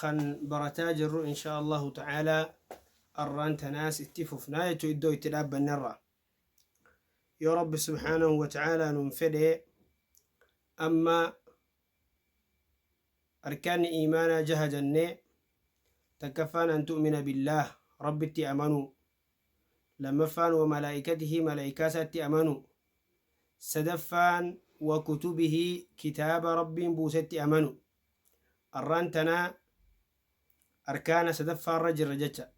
kan barataa jirru inshaa Allahu ta'aalaa arraan tanaas itti fufnaa jechuu iddoo itti dhaabbannerraa yoo rabbi subhaanahu wa ta'aalaa nuun fedhe amma arkaanni iimaanaa jaha jannee takkaffaan an tu'mina billaah rabbitti amanuu Lammaffaan wa malaa'ikatihi malaa'ikaasaatti amanuu. Sadaffaan wa kutubihi kitaaba Rabbiin buusetti amanu. Arraan tana arkaana sadaffaarra jirra jecha.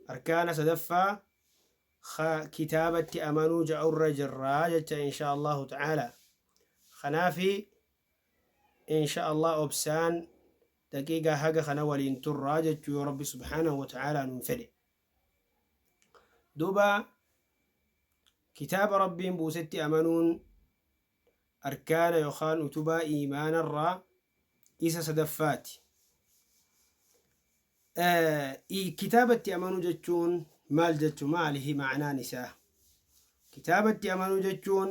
Arkaana sadaffaa ka kitaabatti amanuu ja'urra jirra jecha inshaa Allaahu ta'aalaa. Kanaafi inshaa Allaah obsaan daqiiqaa haga kana waliin turraa jechuu yoo rabbi subhaanahu wa ta'aalaa nuun fedhe duuba kitaaba rabbiin buusetti amanuun arkaana yookaan utubaa iimaanarraa isa sadaffaati kitaabatti amanuu jechuun maal jechu maalihi ma'anaan isaa kitaabatti amanuu jechuun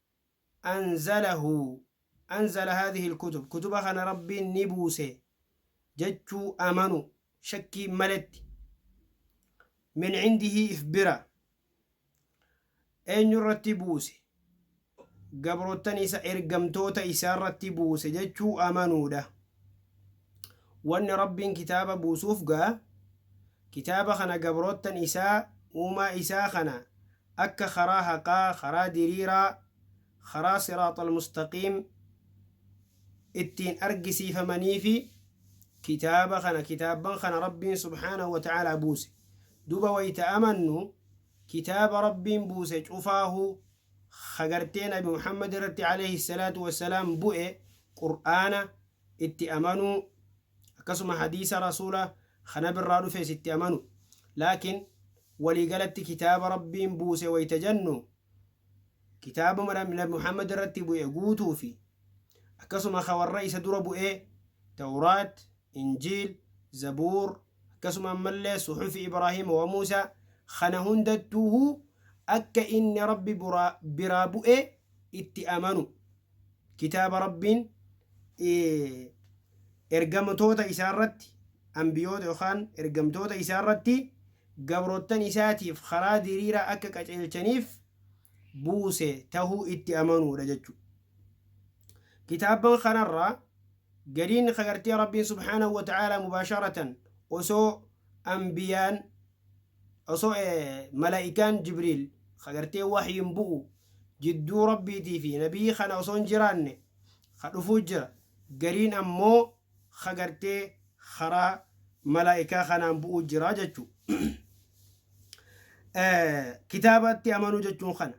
anzalahu anzala haadhihi ilkutub kutuba kana Rabbiin ni buuse jechuu amanu shakkiin maletti min cindihi if bira eenyu irratti buuse gabroottan isa ergamtoota isaa irratti buuse jechuu amanuudha Wanni Rabbiin kitaaba buusuuf ga, kitaaba kana gabroottan Isaa, Uumaa Isaa kana, akka karaa haqaa, karaa diriiraa, karaa siraaxal mustaqiim, ittiin argisiifamaniifi. Kitaaba kana, kitaabban kana Rabbiin subhaanahu wa ta'aalaa buuse. Duuba wayta amannu, kitaaba Rabbiin buuse cufaahuu, ka gartee nabi Muhammad irratti alayhi salaatu wa salaam bu'e, Qur'aana, itti amanuu akkasuma hadiisa rasuula ka nabirraa dhufes itti amanu laakiin walii galatti kitaaba rabbiin buuse wayta jannu kitaabuma nabi muhammad irratti bu'e guutuu fi akkasuma ka warra isa dura bu'ee tawraat injiil zabuur akkasuma ammallee suxufi ibraahiima wa muusaa kana hundattuuhu akka inni rabbi biraa bu'e itti amanu Kitaaba Rabbiin Ergamtoota Isaa irratti, Anbiyoota yookaan Ergamtoota Isaa irratti, gabroottan Isaatiif karaa diriiraa akka qaceelchaniif buuse tahuu itti amanuudha jechuudha. Kitaabban kanarraa gariin ka gartee Rabbiin subhaanahu wa ta'aalaa mubaasharatan osoo Anbiyaan, osoo mala'ikaan jibriil ka gartee wahyiin bu'u jidduu rabbiitii fi nabii kana osoo hin jiraanne ka dhufuu jira gariin ammoo ka gartee karaa malaa'ikaa kanaan bu'uu jira jechuu kitaabatti amanuu jechuun kana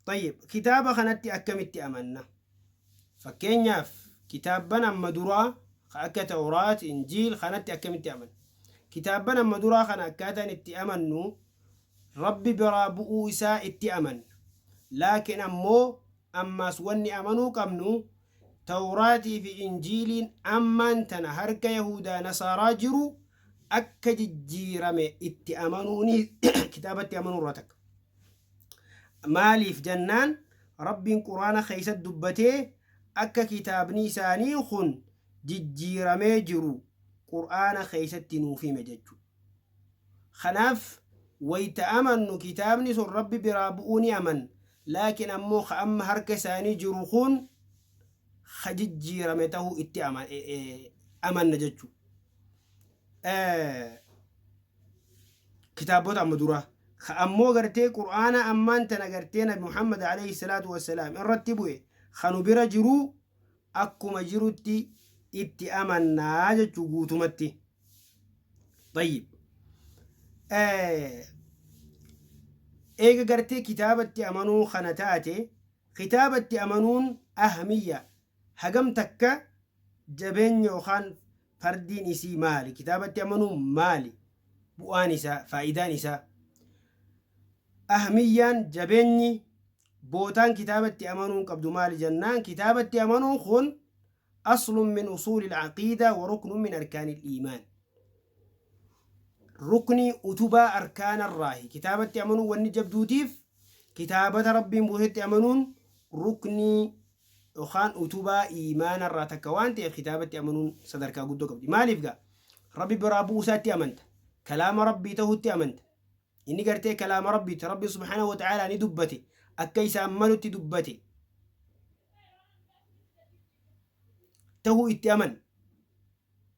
طيب kitaaba kanatti akkamitti amanna Fakkeenyaaf, kitaabban amma duraa ka akka Tawraat, Injiil kanatti akkamitti amanna? Kitaabban amma duraa kana akkaataan itti amannu Rabbi biraa bu'uu isaa itti amanna. Laakin ammoo ammaas wanni amanuu qabnu Tawraatii fi Injiiliin ammaan tana harka Yahuudaa Nasaaraa jiru akka jijjiirame itti amanuu ni kitaabatti amanuu irraa takka. Maaliif jannaan Rabbiin Qur'aana keessatti dubbatee akka kitaabni isaanii kun jijjiiramee jiru Qur'aana keessatti nuuf hime jechuudha. Kanaaf wayta amannu kitaabni sun Rabbi biraa bu'uu ni amanna. Laakiin ammoo ka amma harka isaanii jiru kun ka jijjiirame ta'uu itti amanna jechuudha. kitaabota amma duraa ka ammoo gartee qur'aana ammaan tana gartee nabi muhammad alayhi salaatu wassalaam irratti bu'e ka nu bira jiruu akkuma jirutti itti amannaa jechuu guutumatti طيب eega gartee kitaabatti amanuu kana taate kitaabatti amanuun ahmiyya hagam takka jabeenya yookaan Fardiin isii maali? Kitaabatti amanuun maali? Bu'aan isaa, faayidaan isaa. Ahmiyyaan, jabeenyi, bootaan kitaabatti amanuun qabdu maali jennaan kitaabatti amanuun kun aslun min usuulil aqiidaa wa ruknun min arkaanil iimaan. Ruknii utubaa arkaanarraahi. Kitaabatti amanuun wanni jabduutiif kitaabata Rabbiin buusetti amanuun ruknii Dhokaan utubaa iimaana irraa takka waan ta'eef kitaabatti amanuun sadarkaa guddoo qabdi. Maaliif gaa? Rabbi biraa bu'uu isaatti amanta. Kalaama Rabbii ta'utti amanta. Inni gartee kalaama Rabbiiti. Rabbi subhaanahu wa ta'aalaa ni dubbate. Akka isaan malutti dubbate. Ta'uu itti aman.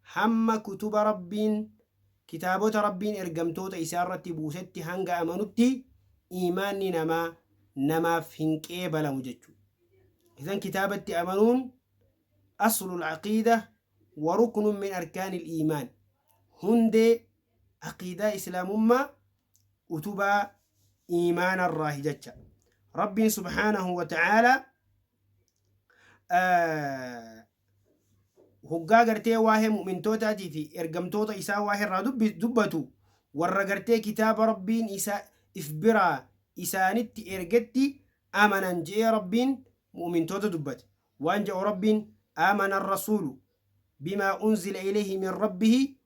hamma kutuba Rabbiin, kitaabota Rabbiin ergamtoota Isaa irratti buusetti hanga amanutti iimaanni namaa namaaf hin qeebalamu jechuudha. Idan kitaabatti amanuun aslul aqiidah wa ruknun min arkaanil iimaan, hundee aqiidaa Islaamummaa, utubaa iimaana irraahi jecha. Rabbiin subhaanahu wa ta'aalaa hoggaa gartee waa'ee mu'mintootaatii fi ergamtoota isaa waa'ee irraa dubbi- dubbatu warra gartee kitaaba rabbiin isa if biraa isaanitti ergetti amanan je'ee rabbiin mu'mintoota dubbate waan ja'u rabbiin amana rasuulu bimaa unzila ilayhi min rabbihi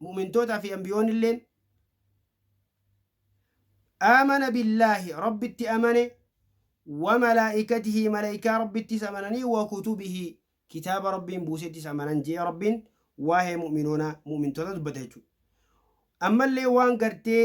Mu'mintootaa fi Anbiyoonilleen, Aamana billaahi, Rabbitti amane, wa malaa'ikatihi, malaykaa Rabbittis amananii, wa kutubihi, kitaaba Rabbiin buusettis amanan je'e Rabbiin waa'ee mu'minoonaa, mu'mintootaa dubbata jechuudha. Ammallee waan gartee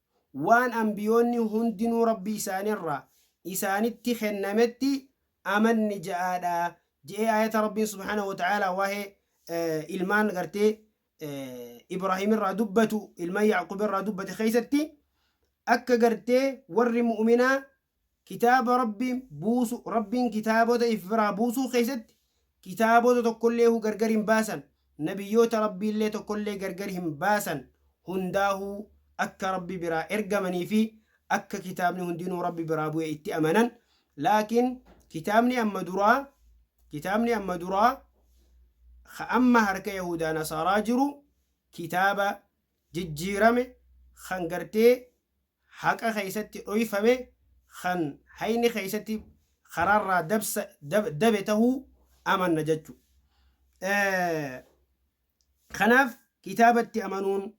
waan anbiyoonni hundinuu Rabbi isaanirraa isaanitti kennametti amanni ja'aadha je'ee aayata Rabbiin subhaanahu wa ta'aalaa waa'ee ilmaan gartee Ibraahimirraa dubbatu ilman Ya'quubirraa dubbate keessatti akka gartee warri mu'minaa Kitaaba Rabbiin buusu, Rabbiin kitaabota if biraa buusuu keessatti kitaabota tokkolleehuu gargar hin baasan, nabiyyoota Rabbiillee tokkollee gargar hin baasan, hundaahuu akka Rabbi biraa ergamanii fi akka kitaabni hundinuu Rabbi biraa bu'e itti amanan, laakiin kitaabni amma duraa, kitaabni amma duraa ka amma harka yahuudaa nasaaraa jiru kitaaba jijjiirame kan gartee haqa keessatti dhoyfame kan hayni keessatti karaarraa dabsa dabe tahuu amanna jachu. Kanaaf kitaabatti amanuun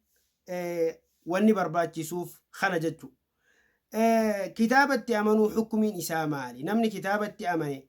wanni barbaachisuuf kana jachu. Kitaabatti amanuu hukmiin isaa maali? Namni kitaabatti amane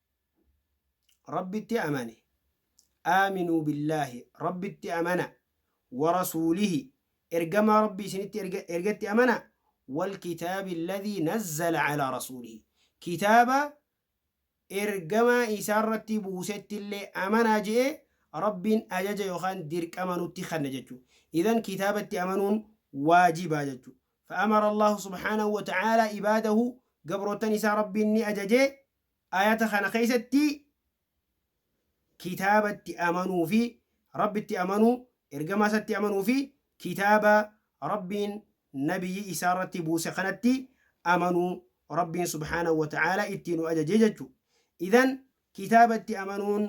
Rabbitti amane. Aaminuu billaahi, Rabbitti amana. Wa rasuulihi, ergamaa Rabbii isinitti erga, ergetti amana. Wal kitaabi alladhii nazzala calaa rasuulihi. Kitaaba ergamaa isaa irratti buusetti illee amanaa je'ee Rabbiin ajaja yookaan dirqama nutti kenne jechu. Idhan kitaabatti amanuun waajibaa jechu. Fa amara Allaahu subhaanahu wa ta'aalaa ibaadahu, gabroottan isaa Rabbiin ni ajaje. Aayata kana keessatti kitaabatti amanuu fi Rabbitti amanuu, ergamaa isatti amanuu fi kitaaba Rabbiin nabiyyii isaa irratti buuse kanatti amanuu Rabbiin subhaanahu wa ta'aalaa itti nu ajaje jechu. Idhan kitaabatti amanuun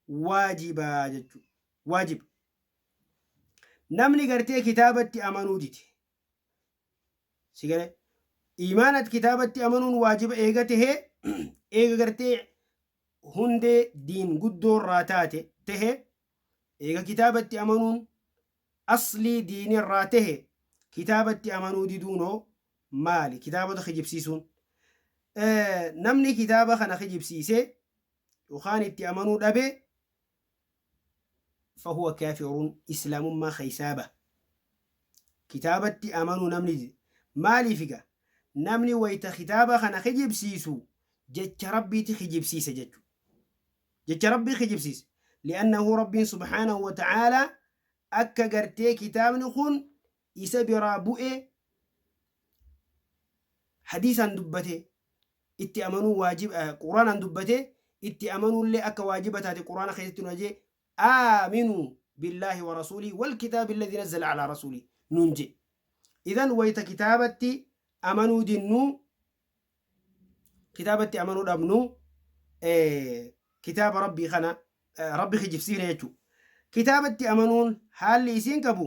waajiba jechu. Waajib. Namni gartee kitaabatti amanuu dide. Si galee? Iimaana ati kitaabatti amanuun waajiba eega tahee, eega gartee hundee diin guddoo irraa taate tahe, eega kitaabatti amanuun aslii diini irraa tahe, kitaabatti amanuu diduun hoo maali? Kitaabota kijibsiisuun. Namni kitaaba kana kijibsiise yookaan itti amanuu dhabe, fahuwa kaafirun islaamummaa keessaa baha. Kitaabatti amanuu namni dide. Maaliif egaa? Namni wayta kitaaba kana kijibsiisu jecha Rabbiiti kijibsiise jechuudha. Jecha Rabbii kijibsiise. Li'annahu Rabbiin subhaanahu wa ta'aalaa akka gartee kitaabni kun isa biraa bu'ee hadiisaan dubbate itti amanuu waajib quraanaan dubbate itti amanuullee akka waajiba taate quraana keessatti nu ajee aaminu billaahi wa rasuulii wal kitaabi alladhi nazzala alaa rasuulii nuun jee idan wayta kitaabatti amanuu dinnuu kitaabatti amanuu dhabnu kitaaba rabbii kana rabbi kijibsiifne jechuu kitaabatti amanuun haalli isiin qabu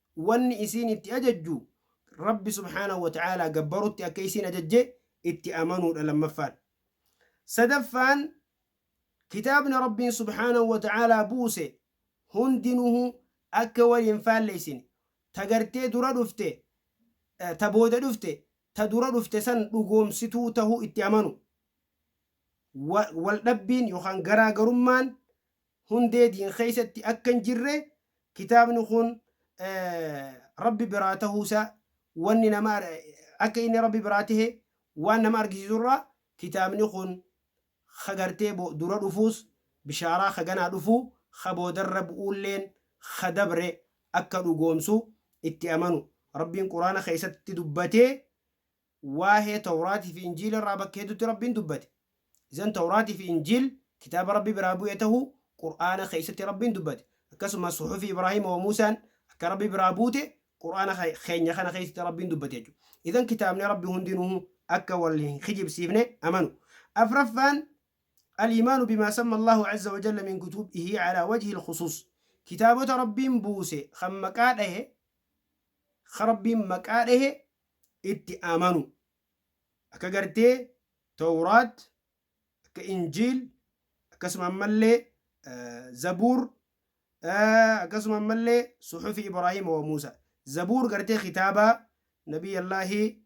wanni isiin itti ajajju Rabbi subhaanahu wa ta'aalaa gabbarutti akka isiin ajajje itti amanuudha lammaffaan. Sadaffaan kitaabni Rabbiin subhaanahu wa ta'aalaa buuse hundinuhu akka wal hin faalleysine, ta gartee dura dhufte, ta booda dhufte, ta dura dhufte san dhugoomsituu tahuu itti amanu. Wa, wal dhabbiin yookaan garaa garummaan hundee diin keessatti akka hin jirre kitaabni kun Rabbi biraa tahuu isaa wanni nama akka inni Rabbi biraa tahe waan nama argisiisu irraa kitaabni kun ka gartee dura dhufuus bishaaraa ka ganaa dhufu ka boodarra bu'uulleen ka dabre akka dhugoomsu itti amanu Rabbiin Qur'aana keessatti dubbatee Waahee Tawraatii fi Injiila irraa bakka hedduutti Rabbiin dubbate. Izan Tawraatii fi Injiil kitaaba Rabbi biraa bu'e tahuu Qur'aana keessatti Rabbiin dubbate. Akkasumas Suhufi Ibraahiima wa Muusaan akka Rabbi biraa buute Qur'aana keenya kana keessatti Rabbiin dubbate jechuudha. Izan kitaabni Rabbi hundinuhu akka wal hin kijibsiifne amanu. Afraffaan Al-iimaanu bimaa samma Allaahu azza wa jalla min kutubihi alaa wajhil khusuus. Kitaabota Rabbiin buuse kan maqaa dhahe ka Rabbiin maqaa dhahe itti amanu, akka gartee Towraat, akka Injiil, akkasuma ammallee Zabuur, akkasuma ammallee Suhufi Ibraahiima wa Muusaa. Zabuur gartee kitaabaa Nabiyyallaahi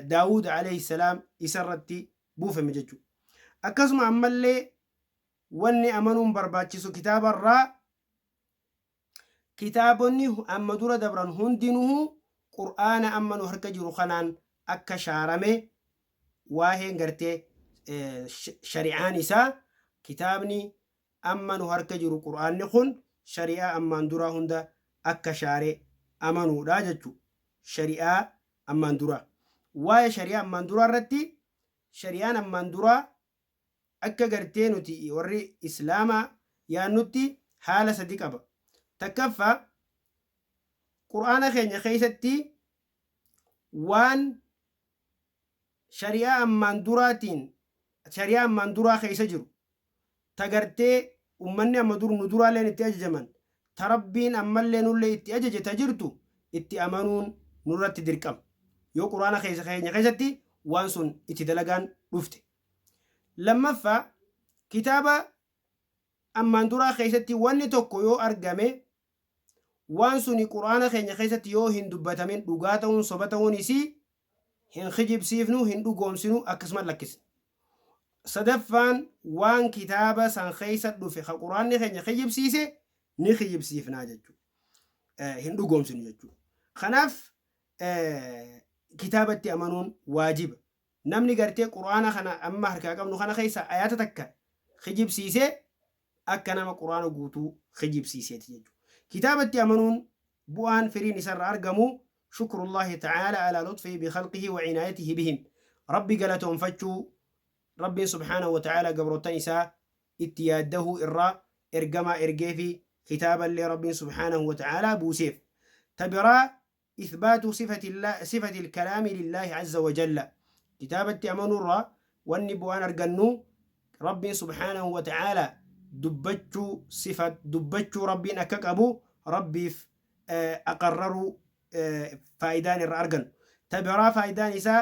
Daawuud alayhi salaam isa irratti buufame jechu. Akkasuma ammallee wanni amanuun barbaachisu kitaaba irraa, Kitaabonni amma dura dabran hundinuhu Qur'aana amma nu harka jiru kanaan akka shaarame waaheen gartee shari'aan isaa kitaabni amma nu harka jiru Qur'aanni kun shari'aa ammaan duraa hunda akka shaare amanuudha jechu shari'aa ammaan duraa waa'ee shari'aa ammaan duraa irratti shari'aan ammaan duraa Akka gartee nuti warri Islaamaa yaannutti haala sadi qaba. Takkaffaa, Qur'aana keenya keessatti waan shari'aa ammaan duraatiin, shari'aa ammaan duraa keessa jiru, ta gartee ummanni amma dur, nu duraalleen itti ajajaman, ta Rabbiin ammallee nullee itti ajaje ta jirtu itti amanuun nurratti dirqama yoo Qur'aana keessa keenya keessatti waan sun itti dalagaan dhufte. Lammaffaa, kitaaba ammaan duraa keessatti wanni tokko yoo argame waan suni Qur'aana keenya keessatti yoo hin dubbatamin dhugaa ta'uun soba ta'uun isii hin kijibsiifnu, hin dhugoomsinu, akkasuman lakkisna. Sadaffaan waan kitaaba san keessa dhufe ka Qur'aanni keenya kijibsiise ni kijibsiifna jechu. Hin dhugoomsinu jechu. Kanaaf kitaabatti amanuun waajiba. Namni gartee Qur'aana kana amma harkaa qabnu kana keessa ayaata takka kijibsiise Akka nama Qur'aana guutuu kijibsiiseeti jechu. Kitaabatti amanuun bu'aan, firiin, isarra argamu shukrullaahi ta'aala alaa luxfihi bikhalqihi wa cinaayatihi bihim. Rabbi galatoonfachuu, Rabbiin subhaanahu wa ta'aala gabroottan isaa itti yaaddahuu irraa ergamaa ergeefi kitaaballee Rabbiin subhaanahu wa ta'aala buuseef. Ta biraa Ithbaatu sifati lkalaami lillaahi azza wa jalla kitaabatti amanuu irraa wanni bu'aan argannu Rabbiin subhaanahu wa ta'aala dubbachuu sifat dubbachuu Rabbiin akka qabu Rabbiif aqarraruu faayidaan irraa argannu ta biraa faayidaan isaa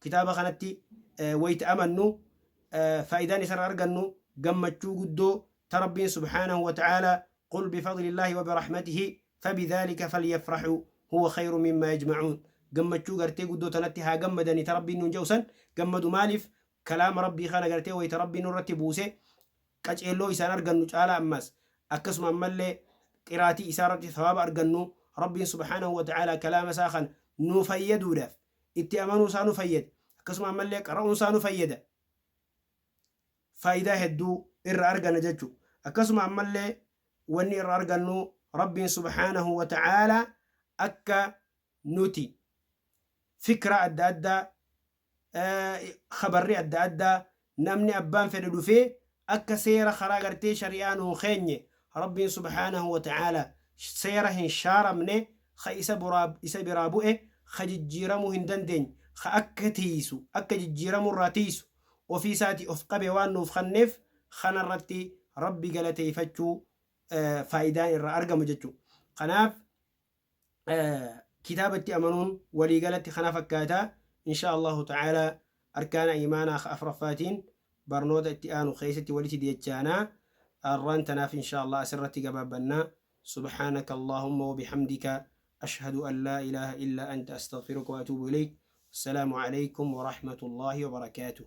Kitaaba kanatti wayta amannu faayidaan isarra argannu gammachuu guddoo ta Rabbiin subhaanahu wa ta'aalaa Qul bifadlillaahi wa birahmatihi fabidhaalika falyafrahuu huwa khayrun mimmaa yajma'uun gammachuu gartee guddoo tanatti haa gammadanii ta Rabbiin nuun ja'u san gammadu maaliif kalaama Rabbii kana gartee wayta Rabbiin nurratti buuse qaceelloo isaan argannu caalaa ammaas akkasuma ammallee qiraatii isaarratti thawaaba argannu Rabbiin subhaanahu wa ta'aalaa kalaama isaa kana nuu fayyaduudhaaf itti amanuu isaa nu fayyada. Akkasuma ammallee qara'uun isaa nu fayyada. Faayidaa hedduu irra arganna jechu. Akkasuma ammallee wanni irra argannu Rabbiin subhaanahu wa ta'aala akka nuti fikra adda addaa, khabarri adda addaa Namni abbaan fedhe dhufee akka seera karaa gartee shari'aa nuun keenye Rabbiin subhaanahu wa ta'aalaa seera hin shaaramne ka isa buraa isa biraa bu'e ka jijjiiramuu hin dandeenye ka akka tiiysu akka jijjiiramuu irraa tiiysu ofii isaatii of qabe waan nuuf kenneef kana irratti Rabbi galateeyfachuu faayidaan irraa argamu jechu. Kanaaf. kitaabatti amanuun waliigalatti kana fakkaata. Inshaa Allahu ta'aalaa arkaana iimaanaa ka afraffaatiin barnoota itti aanu keessatti walitti deechaana. Arraan tanaaf inshaa Allah asirratti gabaabbanna. Subhaanaka Allaahumma wa bihamdika ashhadu an laa ilaaha illaa anta astaghfiruka wa atuubu ilayk. Wassalaamu alaykum wa rahmatullaahi wa barakaatuh.